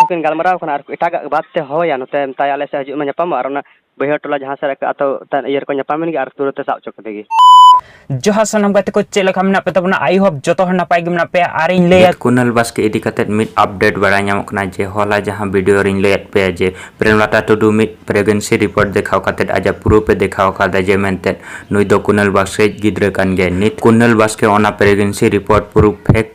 ᱠᱤᱱ ᱜᱟᱞᱢᱟᱨᱟᱣ ᱠᱟᱱᱟ ᱟᱨ ᱮᱴᱟᱜᱟᱜ ᱵᱟᱫ ᱛᱮ ᱦᱚᱦᱚᱭᱟ ᱱᱚᱛᱮ ᱢᱮᱛᱟᱭᱟ ᱟᱞᱮ ᱥᱮᱫ ᱦᱤᱡᱩᱜ ᱢᱮ ᱧᱟᱯᱟᱢᱚᱜ ᱟᱨ ᱚᱱᱟ ᱵᱟᱹᱭᱦᱟᱹᱲ ᱴᱚᱞᱟ ᱡᱟᱦᱟᱸ ᱥᱮᱫ ᱨᱮ ᱟᱛᱳ ᱤᱭᱟᱹ ᱨᱮᱠᱚ ᱧᱟᱯᱟᱢᱮᱱ ᱜᱮ ᱟᱨ ᱛᱩᱨᱟᱹᱛ ᱮ ᱥᱟᱵ ᱦᱚᱪᱚ ᱠᱮᱫᱮ ᱜᱮ ᱡᱚᱦᱟᱨ ᱥᱟᱱᱟᱢ ᱜᱟᱛᱮ ᱠᱚ ᱪᱮᱫ ᱞᱮᱠᱟ ᱢᱮᱱᱟᱜ ᱯᱮ ᱛᱟᱵᱚᱱᱟ ᱟᱭ ᱦᱳᱯ ᱡᱚᱛᱚ ᱦᱚᱲ ᱱᱟᱯᱟᱭ ᱜᱮ ᱢᱮᱱᱟᱜ ᱯᱮᱭᱟ ᱟᱨ ᱤᱧ ᱞᱟᱹᱭᱟ ᱠᱩᱱᱟᱞ ᱵᱟᱥᱠᱮ ᱤᱫᱤ ᱠᱟᱛᱮ ᱢᱤᱫ ᱟᱯᱰᱮᱴ ᱵᱟᱲᱟᱭ ᱧᱟᱢᱚᱜ ᱠᱟᱱᱟ ᱡᱮ ᱦᱚᱞᱟ ᱡᱟᱦᱟᱸ ᱵᱷᱤᱰᱤᱭᱳ ᱨᱤᱧ ᱞᱟᱹᱭᱟᱫ ᱯᱮᱭᱟ ᱡᱮ ᱯᱨᱮᱢᱞᱟᱛᱟ ᱴᱩᱰᱩ ᱢᱤᱫ ᱯᱨᱮᱜᱱᱮᱱᱥᱤ ᱨᱤᱯᱳᱨᱴ ᱫᱮᱠᱷᱟᱣ ᱠᱟᱛᱮ ᱟᱡᱟᱜ ᱯᱨᱩᱯᱷ ᱮ ᱫᱮᱠᱷᱟᱣ ᱟᱠᱟᱫᱟ ᱡᱮ ᱢᱮᱱᱛᱮ ᱱᱩᱭ ᱫᱚ ᱠᱩᱱᱟᱞ ᱵᱟᱥᱠᱮ ᱜᱤᱫᱽᱨᱟᱹ ᱠᱟᱱ ᱜᱮᱭᱟᱭ ᱱᱤᱛ ᱠᱩᱱᱟᱞ ᱵᱟᱥᱠᱮ ᱚᱱᱟ ᱯᱨᱮᱜᱱᱮᱱᱥᱤ ᱨᱤᱯᱳᱨᱴ ᱯᱨᱩᱯᱷ ᱯᱷᱮᱠ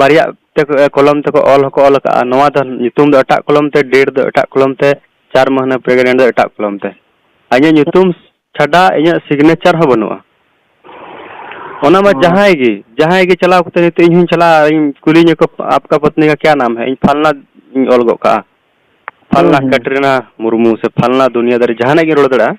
ᱵᱟᱨᱭᱟ ᱠᱚᱞᱚᱢ ᱛᱮᱠᱚ ᱚᱞ ᱦᱚᱸᱠᱚ ᱚᱞ ᱟᱠᱟᱫᱼᱟ ᱱᱚᱣᱟ ᱫᱚ ᱧᱩᱛᱩᱢ ᱫᱚ ᱮᱴᱟᱜ ᱠᱚᱞᱚᱢ ᱛᱮ ᱰᱮᱴ ᱫᱚ ᱮᱴᱟᱜ ᱠᱚᱞᱚᱢ ᱛᱮ ᱪᱟᱨ ᱢᱟᱹᱦᱱᱟᱹ ᱯᱨᱮᱜᱽᱱᱮᱱᱴ ᱫᱚ ᱮᱴᱟᱜ ᱠᱚᱞᱚᱢ ᱛᱮ ᱟᱨ ᱤᱧᱟᱹᱜ ᱧᱩᱛᱩᱢ ᱪᱷᱟᱰᱟ ᱤᱧᱟᱹᱜ ᱥᱤᱜᱽᱱᱮᱪᱟᱨ ᱦᱚᱸ ᱵᱟᱹᱱᱩᱜᱼᱟ ᱚᱱᱟ ᱢᱟ ᱡᱟᱦᱟᱸᱭ ᱜᱮ ᱡᱟᱦᱟᱸᱭ ᱜᱮ ᱪᱟᱞᱟᱣ ᱠᱟᱛᱮ ᱱᱤᱛᱚᱜ ᱤᱧ ᱦᱚᱸᱧ ᱪᱟᱞᱟᱜᱼᱟ ᱤᱧ ᱠᱩᱞᱤᱧᱟ ᱠᱚ ᱟᱯᱠᱟ ᱯᱚᱛᱱᱤ ᱠᱟ ᱠᱮᱭᱟ ᱱᱟᱢ ᱦᱮᱸ ᱤᱧ ᱯᱷᱟᱞᱱᱟ ᱤᱧ ᱚᱞ ᱜᱚᱫ ᱠᱟᱜᱼᱟ ᱯᱷᱟᱞᱱᱟ ᱠᱟᱴᱨᱤᱱᱟ ᱢᱩᱨᱢᱩ ᱥᱮ ᱯᱷᱟᱞᱱᱟ ᱫᱩᱱᱤᱭᱟᱹᱫᱟᱨᱤ ᱡᱟᱦᱟᱱᱟᱜ ᱜᱤᱧ ᱨᱚᱲ ᱫᱟᱲᱮᱭᱟᱜᱼᱟ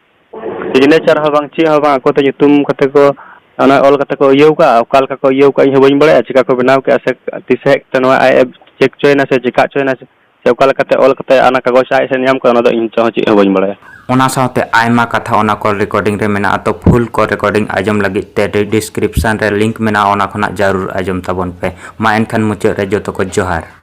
ᱥᱤᱜᱽᱱᱮᱪᱟᱨ ᱦᱚᱸ ᱵᱟᱝ ᱪᱮᱫ ᱦᱚᱸ ᱵᱟᱝ ᱟᱠᱚ ᱛᱮ ᱧᱩᱛᱩᱢ ᱠᱟᱛᱮ ᱠᱚ ᱚᱱᱟ ᱚᱞ ᱠᱟᱛᱮ ᱠᱚ ᱤᱭᱟᱹᱣ ᱠᱟᱜᱼᱟ ᱚᱠᱟ ᱞᱮᱠᱟ ᱠᱚ ᱤᱭᱟᱹᱣ ᱠᱟᱜᱼᱟ ᱤᱧ ᱦᱚᱸ ᱵᱟᱹᱧ ᱵᱟᱲᱟᱭᱟ ᱪᱮᱠᱟ ᱠᱚ ᱵᱮᱱᱟᱣ ᱠᱮᱜᱼᱟ ᱥᱮ ᱛᱤᱥ ᱦᱮᱡ ᱠᱟᱛᱮ ᱱᱚᱣᱟ ᱟᱡ ᱮ ᱪᱮᱠ ᱦᱚᱪᱚᱭᱮᱱᱟ ᱥᱮ ᱪᱮᱠᱟ ᱦᱚᱪᱚᱭᱮᱱᱟ ᱥᱮ ᱚᱠᱟ ᱞᱮᱠᱟᱛᱮ ᱚᱞ ᱠᱟᱛᱮ ᱚᱱᱟ ᱠᱟᱜᱚᱡᱽ ᱟᱡ ᱴᱷᱮᱱ ᱧᱟᱢ ᱠᱟᱫᱟ ᱚᱱᱟ ᱫᱚ ᱤᱧ ᱱᱤᱛᱚᱜ ᱦᱚᱸ ᱪᱮᱫ ᱦᱚᱸ ᱵᱟᱹᱧ ᱵᱟᱲᱟᱭᱟ᱾ ᱚᱱᱟ ᱥᱟᱶᱛᱮ ᱟᱭᱢᱟ ᱠᱟᱛᱷᱟ ᱚᱱᱟ ᱠᱚᱞ ᱨᱮᱠᱚᱨᱰᱤᱝ ᱨᱮ ᱢᱮᱱᱟᱜᱼᱟ ᱛᱚ ᱯᱷᱩᱞ ᱠᱚᱞ ᱨᱮᱠᱚᱨᱰᱤᱝ ᱟᱸᱡᱚᱢ ᱞᱟᱹᱜᱤᱫ ᱛᱮ ᱰᱤᱥᱠᱨᱤᱯᱥᱚᱱ ᱨᱮ ᱞᱤᱝᱠ ᱢᱮᱱᱟᱜᱼᱟ ᱚᱱᱟ ᱠᱷᱚᱱᱟᱜ ᱡᱟᱹᱨᱩᱲ ᱟᱸᱡᱚᱢ ᱛᱟᱵᱚᱱ ᱯᱮ᱾ ᱢᱟ ᱮᱱᱠᱷᱟᱱ ᱢᱩᱪᱟᱹᱫ ᱨᱮ ᱡᱚᱛᱚ ᱠᱚ ᱡᱚᱦᱟᱨ᱾